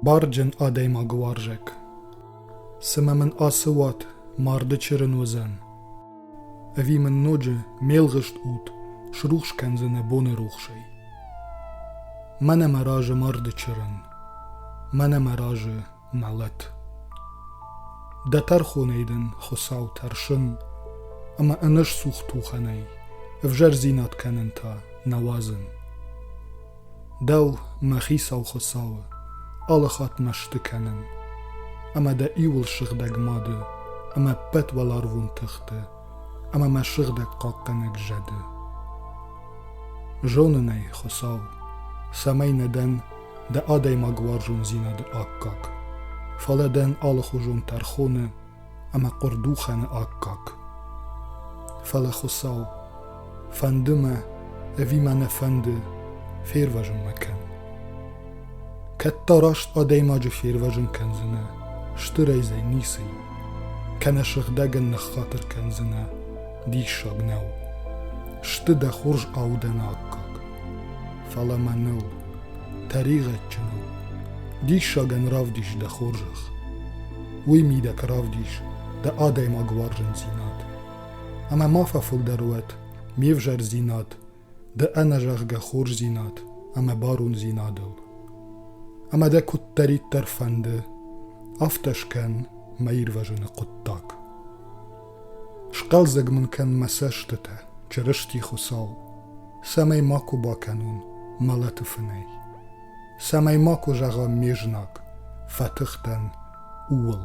Барджын адӕймаг уарзӕг. Цымӕ мын ацы уат марды чырын уыдзӕн? Ӕви мын ноджы ме лгъыст уд срухс кӕндзӕнӕ боны рухсӕй? Мӕнӕ мӕ разы марды чырын. Мӕнӕ мӕ разы мӕлӕт. Дӕ тӕрхонӕй дын Хуыцау тӕрсын, ӕмӕ ӕнӕсцух тухӕнӕй ӕвзӕрдзинад кӕнын та нӕ уадзын. Дӕу, мӕ хицау Хуыцауы, алыхатт мӕсты кӕнын, ӕмӕ дӕ иуыл сыгъдӕг мады ӕмӕ ӕппӕт уӕларвон тыхты ӕмӕ мӕ сыгъдӕг хъахъхъӕнӕг зӕды. Зонын ӕй, Хуыцау, цӕмӕй нӕ дӕн дӕ адӕймагуарзондзинады аккаг, фӕлӕ дӕн алыхуызон тӕрхоны ӕмӕ хъуырдухӕны аккаг. Фӕлӕ, Хуыцау, фӕнды мӕ, ӕви мӕ нӕ фӕнды, фервӕзын мӕ кӕн. Кӕд та раст адӕймаджы фервӕзын кӕндзынӕ, стырӕй дзы ницы и, кӕнӕ сыгъдӕгӕн ныххатыр кӕндзынӕ, диссаг нӕу. Сты дӕ хорз аудӕны аккаг. фӕлӕ мӕныл, тӕригъӕдджын у. Диссагӕн равдис дӕ хорзӕх. Уый мидӕг равдис дӕ адӕймаг уарзындзинад. Ӕмӕ ма фӕфылдӕр уӕд ме взӕрдзинад, дӕ ӕнӕзӕгъгӕ хорздзинад ӕмӕ барондзинадыл. Ӕмӕ дӕ куыддӕриддӕр фӕнды, афтӕ скӕн мӕ ирвӕзыны хъуыддаг. Схъӕлдзӕг мын кӕн мӕ цӕстытӕ, Чырысти Хуыцау, цӕмӕй макуы бакӕнон мӕлӕты фынӕй, цӕмӕй макуы зӕгъӕм ме знаг, фӕтых дӕн, ууыл.